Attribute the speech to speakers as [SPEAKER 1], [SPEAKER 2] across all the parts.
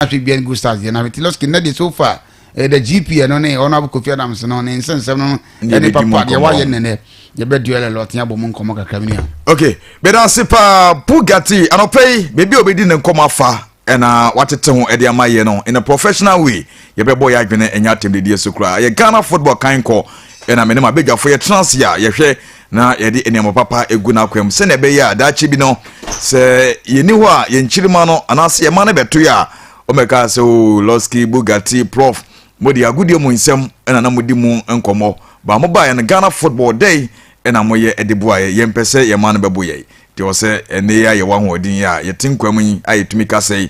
[SPEAKER 1] ahwɛ dwan gu stars deɛ na ahwɛ tiloski nnɛ deɛ so far ɛyɛ eh, the gp ɛno ne ɔno abɔ kofi adams no ne nsɛnsɛm no ɛne papa deɛ wayɛ nnɛnɛ yɛbɛ duel a lot yɛabɔ mu nkɔmmɔ kakra mini a ok bɛda ase
[SPEAKER 2] paa bugatti anɔpɛ yi baabi a obɛdi ne nkɔmmɔ afa ɛna watete ho ɛde ama yɛ no in a professional way yɛbɛbɔ yɛ adwene ɛnyɛ atɛmdedie so koraa yɛ ghana football kan kɔ ɛna mene ma bɛdwafo yɛtena ase a yɛhwɛ na yɛde nneɛma papa gu n'akwam sɛnea ɛbɛyɛ a daakye bi no sɛ yɛni hɔ a yɛn kyirima no anaasɛ yɛn ma no bɛto yɛ a wɔbɛka sɛ o oh, lɔski bugatti prof mode agodie mu nsɛm ɛna na modi mu nkɔmmɔ baa mo baeɛ no ghana football dɛn ɛna moyɛ ɛde boaeɛ yɛn pɛ sɛ yɛn ma no bɛbo yɛn deɛ ɔsɛ ɛnne yɛ a yɛwɔ ahoɔden yɛ a yɛte nkwa mu yi a yɛtumi ka sɛ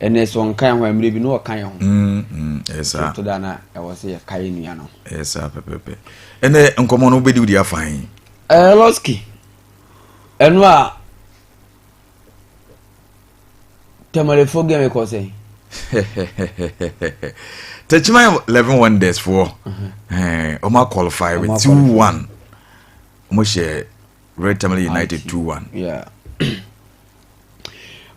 [SPEAKER 3] ɛnɛ sɛ ɔnka yɛn ho a mmerɛ bi na ɔka yɛn ho ɛsaa
[SPEAKER 2] to da na ɛwɔ sɛ
[SPEAKER 3] yɛka yɛn nua no ɛsaa pɛpɛpɛ
[SPEAKER 2] ɛnɛ nkɔmmɔ no wobɛdi wodi afa he ɛɛ lɔski
[SPEAKER 3] ɛno a tɛmɛlefo gɛmɛ kɔ sɛ
[SPEAKER 2] tɛkyima eleven wonders foɔ ɔma qualify with two one ɔmo hyɛ Red Tamale United two
[SPEAKER 3] one.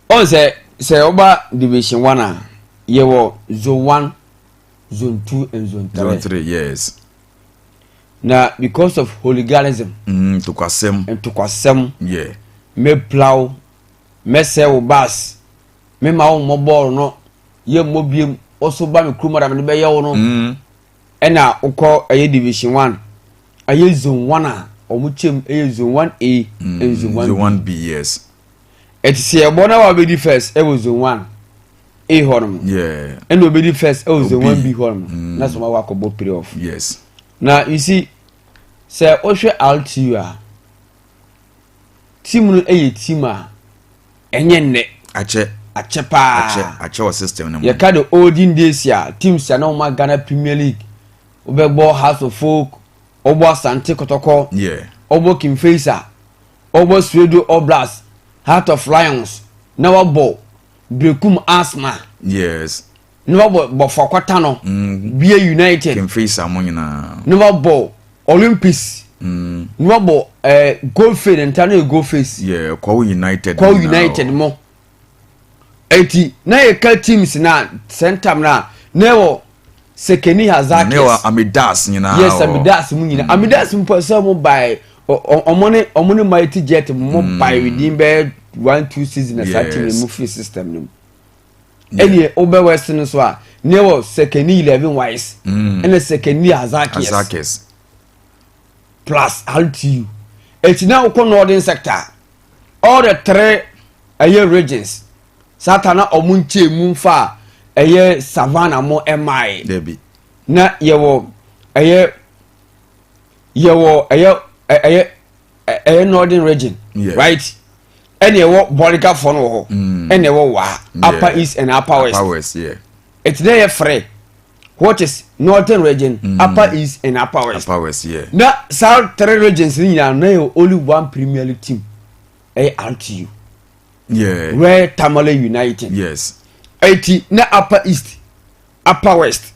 [SPEAKER 3] ɔn sɛ sɛ ɔba division one a yɛ wɔ zone one zone two and zone three. zone three yes. na because of hooliganism. Mm, ntokwasɛm.
[SPEAKER 2] ntokwasɛm. yeah.
[SPEAKER 3] mepla wo mɛsɛ wo baas mema wo mmɔ bɔɔl no yɛ mmɔ biem ɔso ba me kurom ara mede bɛyɛ wo no. Mm. ɛna wokɔ ɛyɛ division one ɛyɛ zone one a wɔn kyɛm ɛyɛ zone one a mm, and zone one zone one b yes
[SPEAKER 2] ɛte sɛ
[SPEAKER 3] ɛbɔ na wabɛdi first ɛwɔ zone one a hɔ nom ɛna obɛdi
[SPEAKER 2] first ɛwɔ
[SPEAKER 3] zone one b hɔ nom mm. na sɛ wɔn awɔ akɔbɔ play off yes na
[SPEAKER 2] you see
[SPEAKER 3] sɛ wohwɛ rtu a Team no yɛ team a ɛnyɛ nnɛ. Akyɛ. Akyɛ paa. Akyɛ akyɛ
[SPEAKER 2] wɔ system no mu. Yɛka the olden
[SPEAKER 3] days a teams a na wɔn ma Ghana Premier League wobɛbɔ House of Folk wɔbɔ Asante Kɔtɔkɔ wɔbɔ King
[SPEAKER 2] Faisal
[SPEAKER 3] wɔbɔ Suedo All Blacks Heart of Lions na wɔabɔ Berekum Asthma. Yes.
[SPEAKER 2] ne wɔbɔ
[SPEAKER 3] bɔfoɔ kɔta no mm. bia united kemfeisa mo nyinaa
[SPEAKER 2] ne wɔbɔ
[SPEAKER 3] olympics mm. ne wɔbɔ eh, gold face ne nta no yɛ gold face yeah, kɔw united
[SPEAKER 2] kɔw united mo
[SPEAKER 3] eti na yɛka teams na sɛntam na na ɛwɔ sekeni hazakis ne wɔ amidas
[SPEAKER 2] nyinaa yes amidas mu nyinaa
[SPEAKER 3] mm. amidas mu pɔ sɛ mo bae ɔmo ne ɔmo ne mighty jet mo bae within bɛɛ one two season na saa team mu free system no mu ɛneɛ wobɛ west no so a neɛ wɔ sɛkɛni eleven wise mm. ɛna sɛkɛni azakes plus rtu ɛti na wokɔ northern sector all the three ɛyɛ regions sata na ɔmo nkyɛn mu fa ɛyɛ savannah mo ɛmae na
[SPEAKER 2] yɛwɔ
[SPEAKER 3] ɛyɛ yɛwɔ ɛyɛ ɛyɛ ɛyɛ northern region right ɛna ɛwɔ bɔregafoɔ no wɔ hɔ mm. ɛna ɛwɔ waa upper east and upper west upper west yeah ɛti
[SPEAKER 2] na yɛ frɛ
[SPEAKER 3] what is northern region mm. upper east and upper west upper west yeah na saa
[SPEAKER 2] three
[SPEAKER 3] regions ni nyinaa na yɛ only one premier league team ɛyɛ rtu yeah
[SPEAKER 2] where tamale
[SPEAKER 3] united yes
[SPEAKER 2] ɛti na
[SPEAKER 3] upper east upper west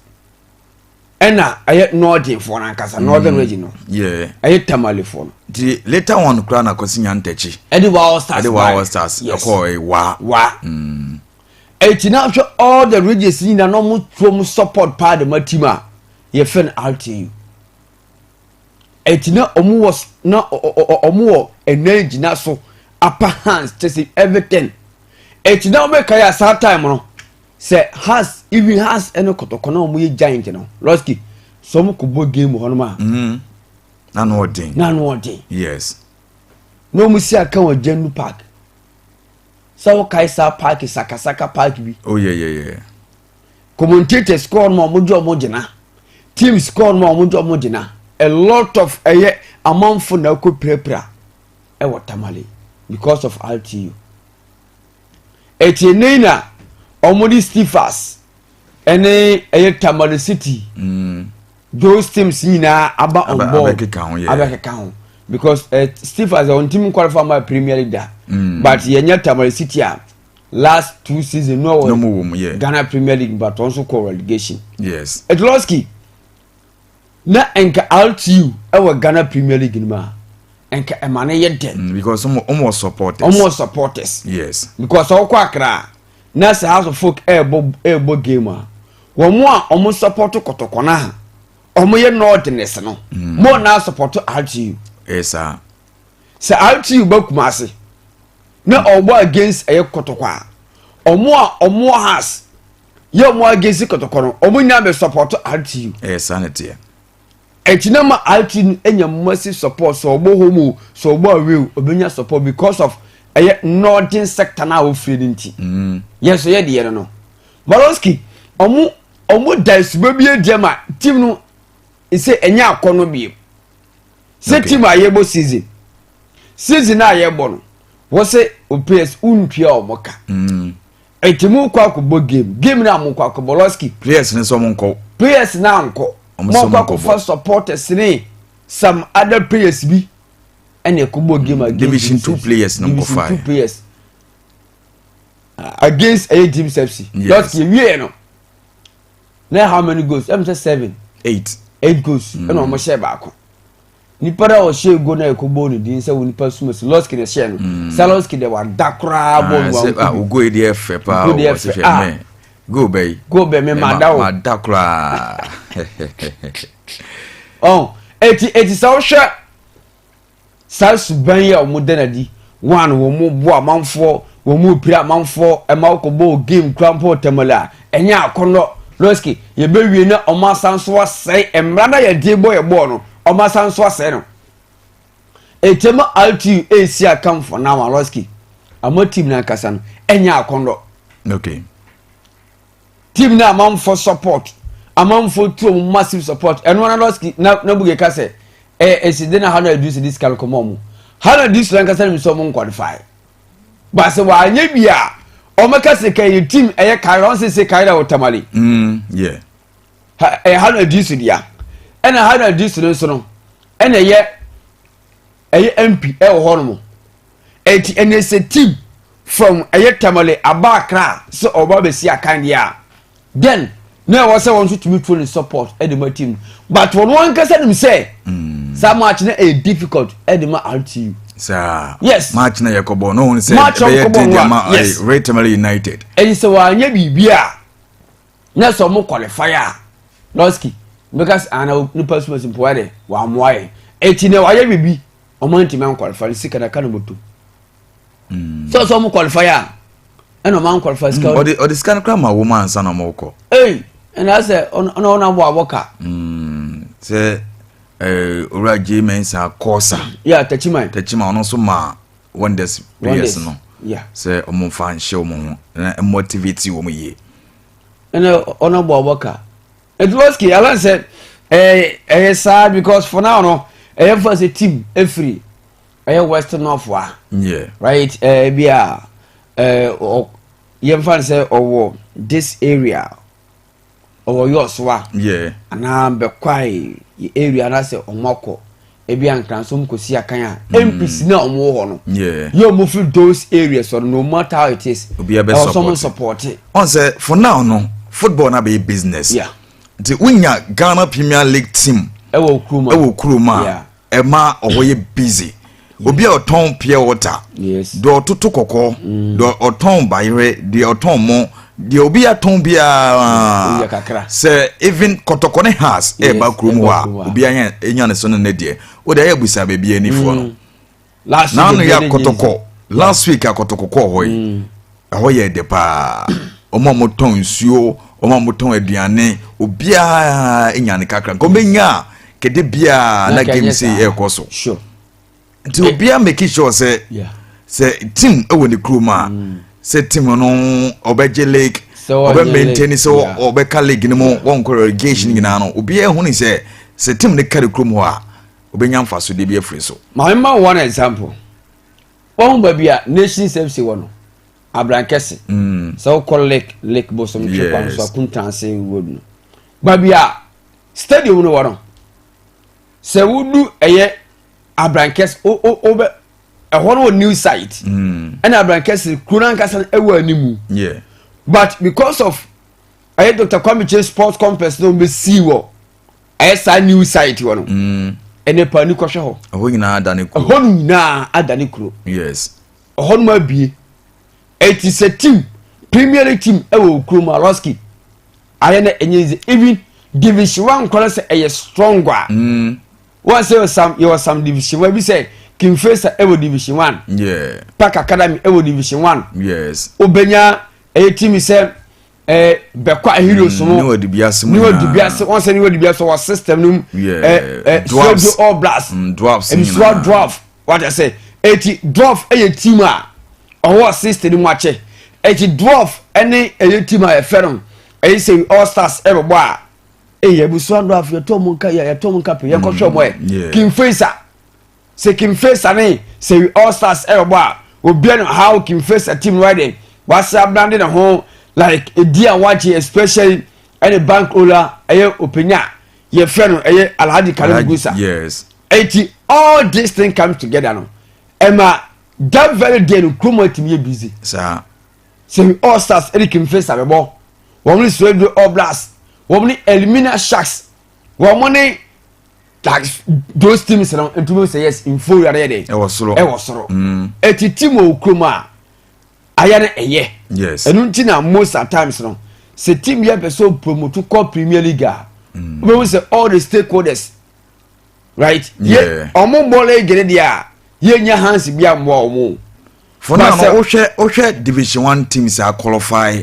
[SPEAKER 3] ɛna ɛyɛ nɔɔdenfoɔ no ankasa mm, northern region no ɛyɛ tamalefoɔ
[SPEAKER 2] no
[SPEAKER 3] nti later on
[SPEAKER 2] koraa na kɔsi nya ntɛkyi ɛde wa all stars ɛde
[SPEAKER 3] wa all stars ɛkɔ
[SPEAKER 2] wa wa mm.
[SPEAKER 3] ɛti na hwɛ all the regions nyina na ɔmo tuo mo support paa de ma team a yɛfɛ no rtu ɛti na ɔmo wɔ na ɔmo wɔ ɛnan gyina so upper hands kyɛ sɛ everything ɛti na ɔmo ɛka yɛ asaa time no sɛ has even has ɛne kɔtɔkɔ na wɔn yɛ giant no lɔski sɛ wɔn kɔ bɔ game hɔ nom a. Mm-hmm. n'ano ɔden n'ano ɔden
[SPEAKER 2] yes
[SPEAKER 3] na wɔn si aka wɔ gyandu park sɛ wɔkae saa park sakasaka park bi. o oh, yɛ yɛ yɛ. commentators kɔɔ nom a wɔn gye wɔn gyina teams kɔɔ nom a wɔn gye wɔn gyina a lot of ɛyɛ amanfo na ɛkɔ pirapira ɛwɔ tamale because of rtu. Ɛteɛ nei na wɔde Stifas ne ɛyɛ Tamale City, mm. those teams nyinaa aba on board abɛkeka ho, yeah. abɛkeka ho because uh, Stifas wɔn team qualify ma Premier League da mm. but yɛnyɛ Tamale City a last two season no wɔ Ghana Premier League but wɔn nso kɔ relegation. Yes. Etoloski. na nka RTU wɔ Ghana Premier League no mu a nka ɛma no yɛ dɛ. Mm, because ɔmo wɔ
[SPEAKER 2] supporters. ɔmo wɔ supporters. yes. because ɔkɔ akra
[SPEAKER 3] na sɛ house of folk ɛɛbɔ ɛɛbɔ game a wɔn a wɔn support kɔtɔkɔ no a wɔn yɛ northerners no mm. mo na support RTU. ɛsa.
[SPEAKER 2] sɛ
[SPEAKER 3] RTU bɛ kuma ase na ɔbɔ against ɛyɛ kɔtɔkɔ a wɔn a wɔn wɔ house. yɛ ɔmo agesi kɔtɔkɔ no ɔmo nyinaa bɛ sɔpɔtɔ rtu. ɛyɛ saa na teɛ.
[SPEAKER 2] ɛti na
[SPEAKER 3] ma rtu no enya mmasi sɔpɔt sɛ ɔbɔ home o sɛ ɔbɔ away o ɔbɛnya sɔpɔt because of ɛyɛ northern sector na ɔfiri no nti. Mm. yɛn so yɛ deɛ no no maroski ɔmo ɔmo da asuba bi adi ama team no sɛ ɛnyɛ akɔ no biem sɛ team a yɛbɔ season season a yɛbɔ no wɔsɛ ops wontua ɔmo ka. Mm. Eti mo kɔ akɔbɔ game game na mo kɔ akɔbɔ lɔski. Players ne sɛ ɔmo nkɔ.
[SPEAKER 2] Players na nkɔ.
[SPEAKER 3] Ɔmo sɛ ɔmo nkɔ bɔ. supporters ne some other players bi ɛna ɛkɔbɔ game against division two players na
[SPEAKER 2] nkɔ fire. Division two players
[SPEAKER 3] against ɛyɛ eh, James FC. Yes. Lɔski ewie no. Na how many goals? Ɛmu sɛ seven. Eight. Eight goals. Ɛna ɔmo hyɛ baako. nipa no a ɔhyɛ ego na ɛkɔ bɔ ne din sɛ onipa suma si lɔski na ɛhyɛ no mm. sɛ lɔski deɛ wada koraa bɔ no wanko bi ah, ogo yi deɛ fɛ
[SPEAKER 2] paa ogo deɛ fɛ ah go bɛ yi go bɛ mi ma da o ma da koraa
[SPEAKER 3] ɔn eti eti sɛ ɔhwɛ saa suban yi a wɔn da na di One, wɔboa amanfoɔ, wɔpira amanfoɔ, ɛma wokɔbɔɔ game kura mpo Tamale a, ɛnyɛ akɔnnɔ. Losky, yɛbɛwie na wɔn asan so asɛe mmara no a yɛde bɔ yɛ bɔɔl no, wɔn asan so asɛe no. Ɛkyɛm RTU ɛresi akam for now a Losky, ama team no ankasa no, ɛnyɛ akɔnnɔ. Okay. team na amanfo support amanfo tuo mu massive support ɛno ara lɔski na na buge ka sɛ ɛyɛ nsede na ha na ɛdu sɛ de sika no kɔma ɔmo ha na di soro ankasa no mi sɛ ɔmo nkɔlifai baasa wɔanyɛ bi a ɔmo ka sɛ ka ɛyɛ team ɛyɛ kaira ɔn sɛ sɛ kaira wɔ tamale mm, ɛyɛ ha na di so dea ɛna ha na di so no nso no ɛna ɛyɛ ɛyɛ mp ɛwɔ hɔ nom Enti ɛnɛ sɛ Tim fam ɛyɛ Tamale aba Accra sɛ ɔba bɛsi akan deɛ a, then na ɛwɔ sɛ wɔn nso tumi tuo ne support de ma Tim no. But wɔn ankasa nim sɛ mm. saa match no ɛyɛ difficult de ma RTU. Saa. Yes.
[SPEAKER 2] Match na yɛ
[SPEAKER 3] kɔbɔ no wɔn
[SPEAKER 2] sɛ ɛbɛyɛ den deɛ ma eh,
[SPEAKER 3] Red Tamale United.
[SPEAKER 2] Ɛyi sɛ wɔanyɛ
[SPEAKER 3] biribi a. na sɛ ɔmo qualify a lɔski mbɛka sɛ ana nipa suma si mpoa dɛ wamoa yɛn eti na wayɛ bibi ɔmo antumi anqualify no sika na ka na ɔmo tom hmm. sɛ ɔsɛ ɔmo qualify a ɛna ɔmo anqualify sika hmm. ɔde ɔde sika no kora ma
[SPEAKER 2] wɔn ansa na ɔmo kɔ ɛyi ɛna sɛ
[SPEAKER 3] ɔno ɔno abɔ abɔ ka hmm. sɛ
[SPEAKER 2] ɛɛ owura jay mensa kɔɔsa yɛ tachiman
[SPEAKER 3] tachiman ɔno nso maa
[SPEAKER 2] wonders players no sɛ ɔmo
[SPEAKER 3] nfa nhyɛ
[SPEAKER 2] ɔmo ho na motivate ɔmo yie. ɛnna
[SPEAKER 3] ɔno bɔ ɔbɔ ka eduroski alan sɛ ɛyɛ ɛyɛ saa because for now no ɛyɛ fa sɛ team efiri ɛyɛ west north wa. yeah right
[SPEAKER 2] ɛɛ bi
[SPEAKER 3] a ɛɛ ɔ yɛn fa sɛ ɔwɔ this area. ɔwɔ yours wa yeah. anaa
[SPEAKER 2] bɛkwae
[SPEAKER 3] yɛ area no asɛ ɔmo akɔ ebi ankranso ɔmo kɔsi akan a mm. mpc no a ɔmo wɔ hɔ no yɛ ɔmo firi
[SPEAKER 2] those
[SPEAKER 3] areas ɔno no ɔmo ata it is ɛwɔ sɛ ɔmo
[SPEAKER 2] sɔpɔte
[SPEAKER 3] ɔn sɛ for now
[SPEAKER 2] no football no abɛyɛ business yeah. nti
[SPEAKER 3] wonya
[SPEAKER 2] ghana premier league team ɛwɔ
[SPEAKER 3] kurom a ɛma
[SPEAKER 2] ɔhɔ yɛ busy obi a ɔtɔn pure water deɛ ɔtoto
[SPEAKER 3] kɔkɔɔ mm.
[SPEAKER 2] deɛ ɔtɔn bayerɛ deɛ ɔtɔn mo deɛ obi atɔn biara sɛ even kɔtɔkɔ ne has ɛɛba kurom hɔ a obi anya ne so no ne deɛ o de ayɛ abusa baabi anifoɔ no. Mm. naano yɛ akɔtɔkɔ last week akɔtɔkɔ kɔɔ hɔ yi mm. ɛhɔ yɛ ɛdɛ paa wɔn a wɔtɔn nsuo wɔn a wɔtɔn aduane obiara nya ne kakra nka wɔbɛnya a kɛde biara
[SPEAKER 3] na
[SPEAKER 2] game se ɛrekɔ so nti obiara make sure sɛ sɛ team ɛwɔ ne kurom a mm. sɛ team no ɔbɛgye lake ɔbɛ maintain sɛ ɔbɛka lake no mu wɔnkɔ relegation nyinaa no obiara hu ne sɛ sɛ team no kari kurom hɔ a obenya mfasode bi afiri so. Ma me ma wo one
[SPEAKER 3] example. Wahu baabi a Nations FC wɔ no? Abrankɛse. Mm. Sɛ wokɔ Lake Lake Bosom twe kwan so Akuntanse road no. Baabi a stadium no wɔ no. Sɛ wodu ɛyɛ Abrankɛse o o o bɛ ɛhɔ no wɔ new site. Mm. Ɛna Abrankɛse kuro no ankasa no ɛwɔ animu. Yeah. But because of ɛyɛ Dr. Kwame Kyei Sports Complex no bɛ sii wɔ. ayɛ saa new site hɔ no mm. ɛnɛ pa ni kɔhwɛ hɔ ɛhɔ nyinaa ada ne kuro
[SPEAKER 2] ɛhɔ no nyinaa ada
[SPEAKER 3] ne kuro yes
[SPEAKER 2] ɛhɔ no abie
[SPEAKER 3] ɛti sɛ team premier league team ɛwɔ kurom alɔski ayɛ na ɛnyɛ nze even division one kɔnɔ sɛ ɛyɛ strong a mm. wɔn sɛ yɛ sam yɛ wɔ sam division one bi sɛ kinfesa ɛwɔ division one yeah. park
[SPEAKER 2] academy ɛwɔ
[SPEAKER 3] division one yes obenya ɛyɛ team sɛ. ɛɛ bɛkɔ ahiriw so no niwa dubiase mu
[SPEAKER 2] niwa dubiase wɔn sɛ niwa
[SPEAKER 3] dubiase wɔ system no mu ɛɛ ɛɛ sɛbi
[SPEAKER 2] all blast mm,
[SPEAKER 3] dwarfs nyinaa msuwa
[SPEAKER 2] dwarf
[SPEAKER 3] wɔde sɛ eti dwarf ɛyɛ team a ɔwɔ system no mu akyɛ eti dwarf ɛne ɛyɛ team a yɛfɛ no ɛyɛ sɛ all stars ɛbɛbɔ a ɛyɛ msuwa dwarf yɛtɔ mu nka yɛtɔ mu nka pɛ yɛkɔhwɛ mu ɛ king faisa. Sɛ Kingfisher ne Seri All Stars rebɔ a, obiara nim how Kingfisher team right then wase abrande ne ho like edi a wagye especially ɛne bank owner ɛyɛ openya a yɛfrɛ no ɛyɛ Alhaji Karim Gusa. Yes. Eti
[SPEAKER 2] all
[SPEAKER 3] this thing comes together no ɛma that very day no kurom atumi yɛ busy. Saa.
[SPEAKER 2] Seri All
[SPEAKER 3] Stars ɛne Kingfisher bɛbɔ wɔn ne Soweto All Blacks wɔn ne Elimina Sharks wɔn ne like those teams no ntumi sɛ yes nfo wura yɛ dɛ ɛwɔ soro ɛwɔ soro
[SPEAKER 2] mm. eti
[SPEAKER 3] team wɔ kurom a ayɛ no ɛyɛ yes ɛnu ti na
[SPEAKER 2] most at
[SPEAKER 3] times no sɛ team yɛ pɛ so promote kɔ premier league a mm. wobɛhu sɛ all the stakeholders right yɛ ɔmo
[SPEAKER 2] bɔ league ne
[SPEAKER 3] deɛ a yɛnya hansi bi a mmoa ɔmo fɔnà no
[SPEAKER 2] wohwɛ wohwɛ division one teams a qualify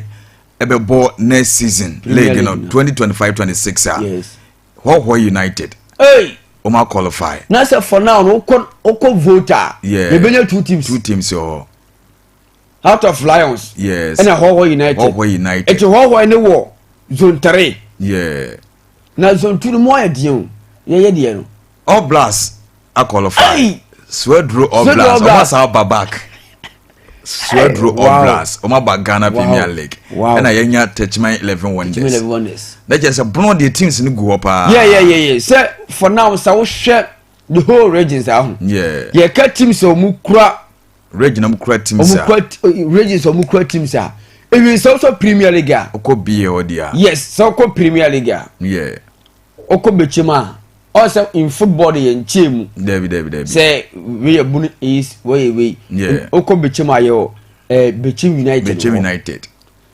[SPEAKER 2] ɛbɛbɔ next season league no twenty
[SPEAKER 3] twenty five
[SPEAKER 2] twenty six a hɔhɔ united wɔn a
[SPEAKER 3] qualify.
[SPEAKER 2] na sɛ for now no
[SPEAKER 3] okɔ okɔ vote a. yɛ ebenya two
[SPEAKER 2] teams. two teams
[SPEAKER 3] wɔ
[SPEAKER 2] out
[SPEAKER 3] of lions. yes ɛna hɔhɔ
[SPEAKER 2] united. hɔhɔ
[SPEAKER 3] united. eti hɔhɔ ne wɔ zone three. yɛ.
[SPEAKER 2] na zone
[SPEAKER 3] two no mu ayɛ deɛ o yɛyɛ deɛ no. all blast.
[SPEAKER 2] akɔlɔfae suaduro oblas ɔmo asa aba back suaduro oblas ɔmo aba ghana premier league ɛna yɛnya tɛkyima eleven wonders na kyerɛ sɛ bono deɛ teams no gu hɔ paa yɛyɛyɛyɛ sɛ
[SPEAKER 3] for now sɛ wohwɛ the whole regions aho yɛka teams a ɔmo kura region ɔmo kura
[SPEAKER 2] teams a regions
[SPEAKER 3] ɔmo kura teams a ewi sɛ wosɔ premier league a ɔkɔ bie hɔ deɛ
[SPEAKER 2] yes sɛ ɔkɔ premier
[SPEAKER 3] league a yeah
[SPEAKER 2] Ɔkɔ bɛkyɛ
[SPEAKER 3] mu a ɔn sɛ in football de yɛ nkyɛn mu. Dabi dabi dabi. Sɛ
[SPEAKER 2] wei yɛ
[SPEAKER 3] bunu is wei yɛ wei. Ɔkɔ bɛkyɛ
[SPEAKER 2] mu a yɛ ɔ
[SPEAKER 3] ɛɛ bɛkyɛ United. Bɛkyɛ United.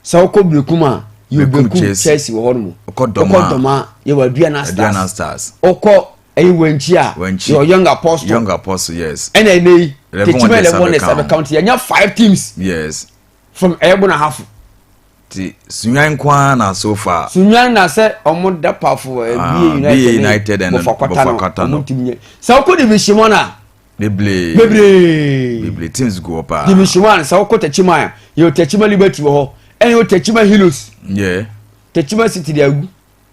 [SPEAKER 3] Sɛ ɔkɔ bɛkum a yɛ bɛkum Chelsea wɔ hɔ nom. Ɔkɔ dɔm a ɔkɔ dɔm a
[SPEAKER 2] yɛ wɔ Aduana Stars.
[SPEAKER 3] Aduana Stars. Ɔkɔ
[SPEAKER 2] ɛyɛ
[SPEAKER 3] wɛnkyi a yɛ wɔ Young Apostle. Young Apostle yes. Ɛna ɛnɛ
[SPEAKER 2] yi
[SPEAKER 3] tɛkyima eleven ne sabe count yɛ nya five teams. Yes.
[SPEAKER 2] From ɛyɛ bona
[SPEAKER 3] hafo. Ti
[SPEAKER 2] sunyan nko ara na so far. Sunyan na sɛ ɔmo
[SPEAKER 3] da pafo ɛ ah, bie United United
[SPEAKER 2] ɛna bɔfɔ kwata no ɔmo ntumi
[SPEAKER 3] nyɛ sɛ ɔkɔ division one a. Bebree bebree
[SPEAKER 2] bebree teams gu hɔ paa. Division one sɛ ɔkɔ
[SPEAKER 3] Tachima a yɛ o Tachima Liberty wɔ hɔ ɛna yɛ o Tachima Hilos. Yɛ.
[SPEAKER 2] Tachima City
[SPEAKER 3] de agu.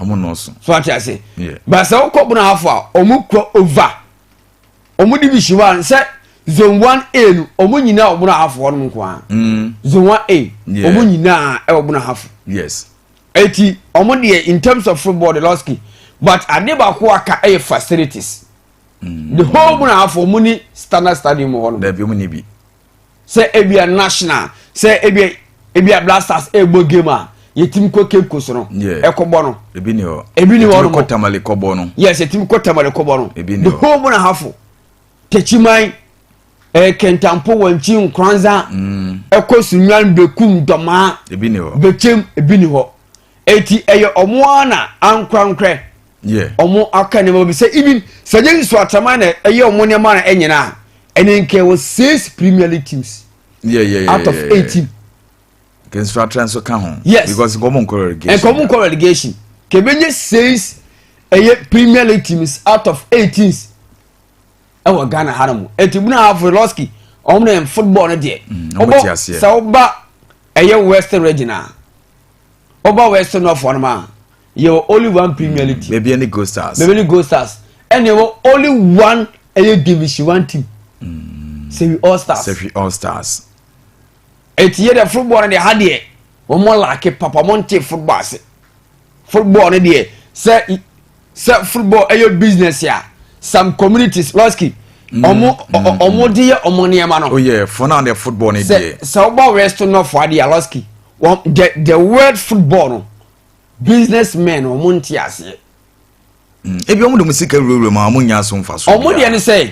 [SPEAKER 2] ɔmo nɔɔso. so ate ase
[SPEAKER 3] baasa wokɔ
[SPEAKER 2] bono afɔ
[SPEAKER 3] a ɔmo kɔ ova ɔmo de bi si hɔ a nsɛ zone one a no ɔmo nyinaa wɔ bono afɔ ɔno nko ara mm. zone one a ɔmo nyinaa ɛwɔ bono afɔ. yes.
[SPEAKER 2] eti
[SPEAKER 3] ɔmo deɛ in terms of football de lɔski but ade baako aka ɛyɛ facilities. Mm. the whole bono afɔ ɔmo ni standard stadium wɔ hɔ no. dɛbi ɔmo ni bi.
[SPEAKER 2] sɛ ebia
[SPEAKER 3] national sɛ ebia ebia blasters ɛbɔ game a yɛtumi kɔ cape coast no ɛkɔbɔ no ebi ni hɔ ebi ni
[SPEAKER 2] hɔ no kɔ tamale
[SPEAKER 3] kɔbɔ no
[SPEAKER 2] yes yɛtumi kɔ
[SPEAKER 3] tamale kɔbɔ no ebi
[SPEAKER 2] ni hɔ the
[SPEAKER 3] whole mu na hafo
[SPEAKER 2] tɛkyiman
[SPEAKER 3] ɛɛ eh, kɛntampo wɔnkyi nkoranza mm. ɛkɔ sunwan bekum dɔmaa ebi ni hɔ bɛkyɛm
[SPEAKER 2] ebi ni hɔ
[SPEAKER 3] Eti ɛyɛ ɔmo ara na ankorankorɛ ɔmo aka nneɛma bi sɛ even sɛ gye nso ataman na ɛyɛ ɔmo nneɛma na ɛnyina a ɛne nka ɛwɔ six premier league teams yeah, yeah, yeah, out of yeah, yeah. eighteen.
[SPEAKER 2] nso atra nso ka ho yes because nkɔmɔ nkɔ
[SPEAKER 3] relegation
[SPEAKER 2] nkɔmɔ nkɔ relegation
[SPEAKER 3] kɛbɛnyɛ six ɛyɛ premier league teams out of eighteen ɛwɔ ghana ha nom eti bu na afɔ lɔski ɔmo na football no deɛ ɔbɔ sɛ ɔba ɛyɛ western region a. Wobɔ West Norfoɔ no ma yɛwɔ only one Premier League team. Baabi ne Gold Stars. Baabi ne
[SPEAKER 2] Gold Stars. Ɛna
[SPEAKER 3] ɛwɔ only one ɛyɛ division one team. Mm. Sɛhwi All Stars. Sɛhwi All Stars. Eti yɛ dɛ football no deɛ ha deɛ wɔn laake papa wɔn nte football ase. Football no deɛ sɛ sɛ football ɛyɛ business a some communities lɔski mm, ɔmo mm, mm. ɔmo de yɛ ɔmo nneɛma no. oyɛ oh, fɔn na de
[SPEAKER 2] football ne deɛ. sɛ ɔba west nɔfo
[SPEAKER 3] adi a lɔski wɔn the the word football no business men ɔmo nti aseɛ.
[SPEAKER 2] ebi ɔmo de mo sika wurawura mu a ɔmo nya so nfa so. ɔmo deɛ ne sɛ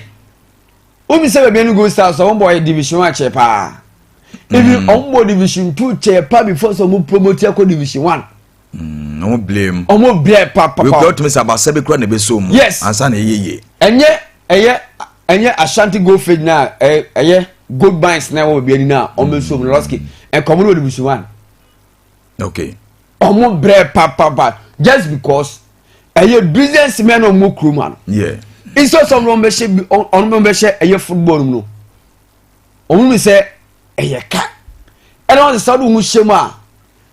[SPEAKER 3] obi sɛ baabi ɛni gold stars ɔmo bɔ ɔyɛ division one kyɛ paa ebi ɔmo bɔ division two kyɛ paa before sɛ ɔmo promote ɛkɔ division one. Mm, ɔmo
[SPEAKER 2] bile mu. ɔmo bile papapa. wekura
[SPEAKER 3] otumi sɛ abasa
[SPEAKER 2] bi kura na ebe so mu. yes ansa na eye yie. ɛnyɛ ɛyɛ
[SPEAKER 3] ɛnyɛ ashanti gold field na ɛyɛ gold mines na ɛwɔ baabi ani na ɔmo nsuo mu lɔski nkɔmɔ no wɔ nibusu wa.
[SPEAKER 2] okay. ɔmo
[SPEAKER 3] bile papapa just because ɛyɛ business men na ɔmo kuro mu ano. yeah. nso sɛ ɔmo bɛ hyɛ ɔmo bɛ hyɛ ɛyɛ football mu no ɔmo mi sɛ ɛyɛ ka ɛna ɔmo sɛ ɔmo hyɛ mu a.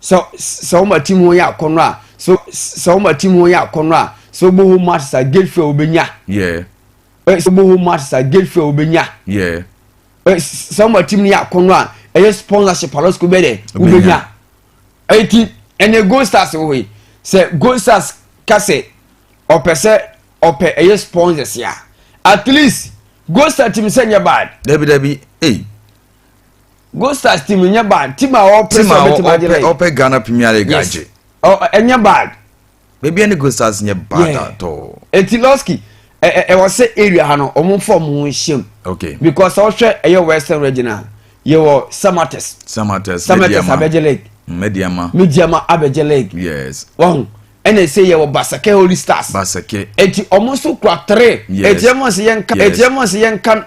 [SPEAKER 3] sɛ sɛ wɔn ati mu yɛ akɔnɔ a sɛ sɛ wɔn ati mu yɛ akɔnɔ a sɛ wɔbɔ hɔ mu asesa gate fɛ wɔbɛnya yɛ sɛ wɔbɔ hɔ mu asesa gate fɛ wɔbɛnya yɛ sɛ wɔn ati mu yɛ akɔnɔ a ɛyɛ sponsorship alɔsiko bɛ dɛ wɔbɛnya eti ɛnɛ gold stars wɔ hɔ yi sɛ gold stars kasɛ ɔpɛ sɛ ɔpɛ ɛyɛ sponsors a at least gold stars ti mi sɛ nyɛ bad. dabi dabi ee. Hey. Gold Stars team nyɛ bad team a ɔpɛ sɛ ɔbɛtumi agye lɛ. ɔpɛ
[SPEAKER 2] Ghana Premier League agye. ɛnyɛ bad.
[SPEAKER 3] baabi ɛne Gold
[SPEAKER 2] Stars nyɛ bad atɔ. eti lɔski
[SPEAKER 3] ɛwɔ sɛ area ha no wɔn fɔ wɔn ho nhyɛm. okay because
[SPEAKER 2] ɔhwɛ ɛyɛ
[SPEAKER 3] western region a yɛwɔ samates. samates samates abɛgye league. mediama mediama abɛgye league. yes wɔn
[SPEAKER 2] ɛna
[SPEAKER 3] ɛsɛ yɛ wɔ basake holy stars. basake eti wɔn nso kura three. yes eti ɛmu nso yɛn ka eti ɛmu nso yɛn ka.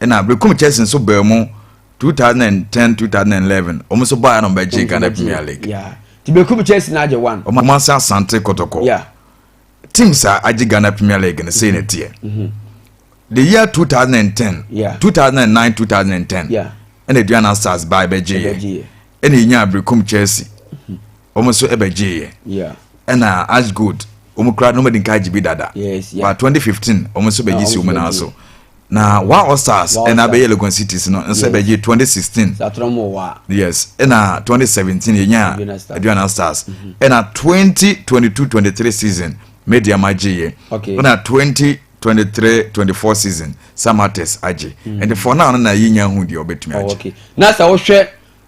[SPEAKER 2] Ɛna
[SPEAKER 3] Berekum
[SPEAKER 2] Chelsea nso baa mu 2010 2011 wɔn nso baa na wɔn bɛgye Ghana Premier League. Yeah. Ti Berekum
[SPEAKER 3] Chelsea na agye one. Wɔn ase Asante
[SPEAKER 2] Kɔtɔkɔ. Yeah.
[SPEAKER 3] Teams a
[SPEAKER 2] agye Ghana Premier League no sei na mm-hmm. ɛteɛ. Mm-hmm. The year 2010. Yeah. 2009 2010. Yeah. Ɛna Aduana Stars baa ɛbɛgye yɛ. Ɛna enya Berekum Chelsea. wɔn nso bɛgyeeɛ ɛna as good wɔn kura na wɔn adi nka agye bi dada ba 2015 wɔn nso bɛgye si wɔn nan so na wa all stars ɛna abɛyɛ legon cities no nso bɛgye 2016 yes ɛna 2017 yɛnya aduana stars ɛna 2022 23 season media ma gyeeɛ ɛna 20 23 24 season samates agye ɛnti fɔ naa no na yɛnya hu deɛ ɔbɛtumi agye na sɛ wohwɛ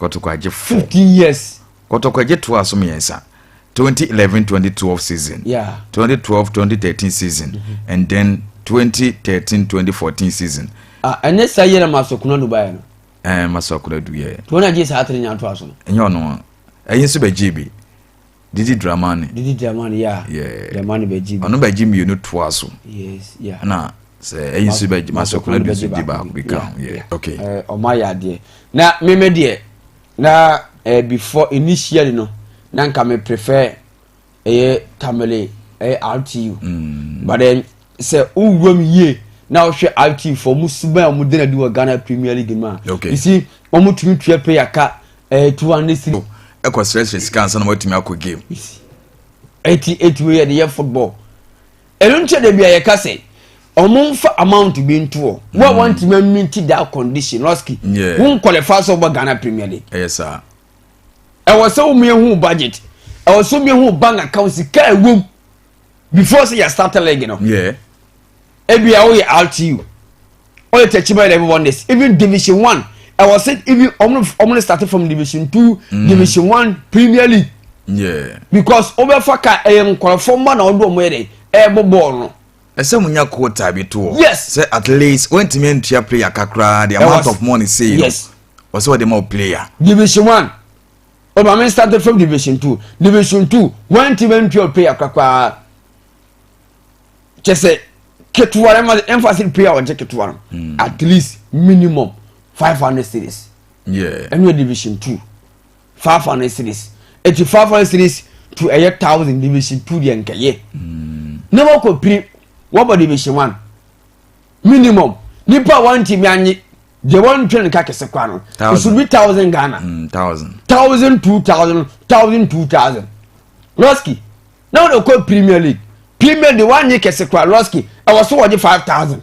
[SPEAKER 2] Kɔtɔkwagye four. Fifteen years.
[SPEAKER 3] Kɔtɔkwagye toa
[SPEAKER 2] so mmiɛnsa. 2011 2012 season yeah. 2012 2013 season mm -hmm. and then 2013 2014 season ah, ɛnyɛ saa yɛ na
[SPEAKER 3] masɔkona du baeɛ no ɛɛ eh, masɔkona du
[SPEAKER 2] yɛ nti wɔn agye saa tere nyanto
[SPEAKER 3] aso no ɛnyɛ ɔno a
[SPEAKER 2] ɛyi nso bɛgye bi Didi Dramani. Didi Dramani ya.
[SPEAKER 3] Yeah. Dramani bɛ ji.
[SPEAKER 2] Ɔno bɛ
[SPEAKER 3] ji mmienu toa
[SPEAKER 2] so. Yes ya. Yeah. Na
[SPEAKER 3] sɛ ɛyi
[SPEAKER 2] nso bɛ ji masokora bi nso di baako bi kan. Yeah. Okay. Ɛɛ ɔmo ayɛ adeɛ.
[SPEAKER 3] Na mímɛ deɛ na ɛɛ eh, before initially no na nka mi prefer ɛyɛ tamale ɛyɛ RTU. Mm. But then sɛ wowura mu yie na wohwɛ IT fo wɔn suban a wɔde no adi wɔ Ghana Premier League mu a okay. isi
[SPEAKER 2] wɔtumi
[SPEAKER 3] tua player ka ɛɛ eh, two hundred six. ɛkɔ srɛsrɛ
[SPEAKER 2] sika ansa na wɔatumi akɔ game. ɛti
[SPEAKER 3] ɛtumi yɛ de yɛ football ɛno nkyɛn de bi a yɛka sɛ wɔn nfa amount bi ntoɔ wo a mm. wɔntumi aminti that condition lɔski wo nkɔlɛfa
[SPEAKER 2] sɛ wɔbɔ
[SPEAKER 3] Ghana Premier League. ɛyɛ saa.
[SPEAKER 2] ɛwɔ
[SPEAKER 3] sɛ wɔn yɛ hu budget ɛwɔ sɛ wɔn yɛ hu bank account sika ɛwɔ mu. before sɛ yɛ start league no
[SPEAKER 2] ebi a
[SPEAKER 3] woyɛ rtu ɔyɛ tɛkyima eleven wonders even division one ɛwɔ sɛ even ɔmo ɔmo ne start from division two mm. division one premier league yeah.
[SPEAKER 2] because wobɛfa
[SPEAKER 3] ka ɛyɛ nkorɔfoɔ mma na ɔdo ɔmo yɛ dɛ ɛɛbɔ bɔɔl no ɛsɛ mu nya kota
[SPEAKER 2] bi to hɔ yes sɛ at least
[SPEAKER 3] wɔntumi
[SPEAKER 2] ntua player kakra the amount of money say yes wɔsɛ
[SPEAKER 3] wɔde ma o
[SPEAKER 2] player division one
[SPEAKER 3] Oh, my man started from division two. Division two, one team and twelve player kakra. Just say, ketewa ɛma emphasis player ɔgye ketewa no hmm. at least minimum five hundred series. Yeah. And ɛnu
[SPEAKER 2] division two
[SPEAKER 3] five hundred series eti five hundred series to a ɛyɛ thousand division two deɛ nkɛyɛ. Hmm. Na wakɔ piri wɔbɔ division one. minimum nipa a wɔntumi anye deɛ wɔntwe no ka kɛse kwa no it should be thousand ghana mm, thousand
[SPEAKER 2] thousand two
[SPEAKER 3] thousand thousand two thousand lɔski na wɔde kɔ premier league premier de wɔanye kɛse kwa lɔski ɛwɔ so wɔgye five thousand.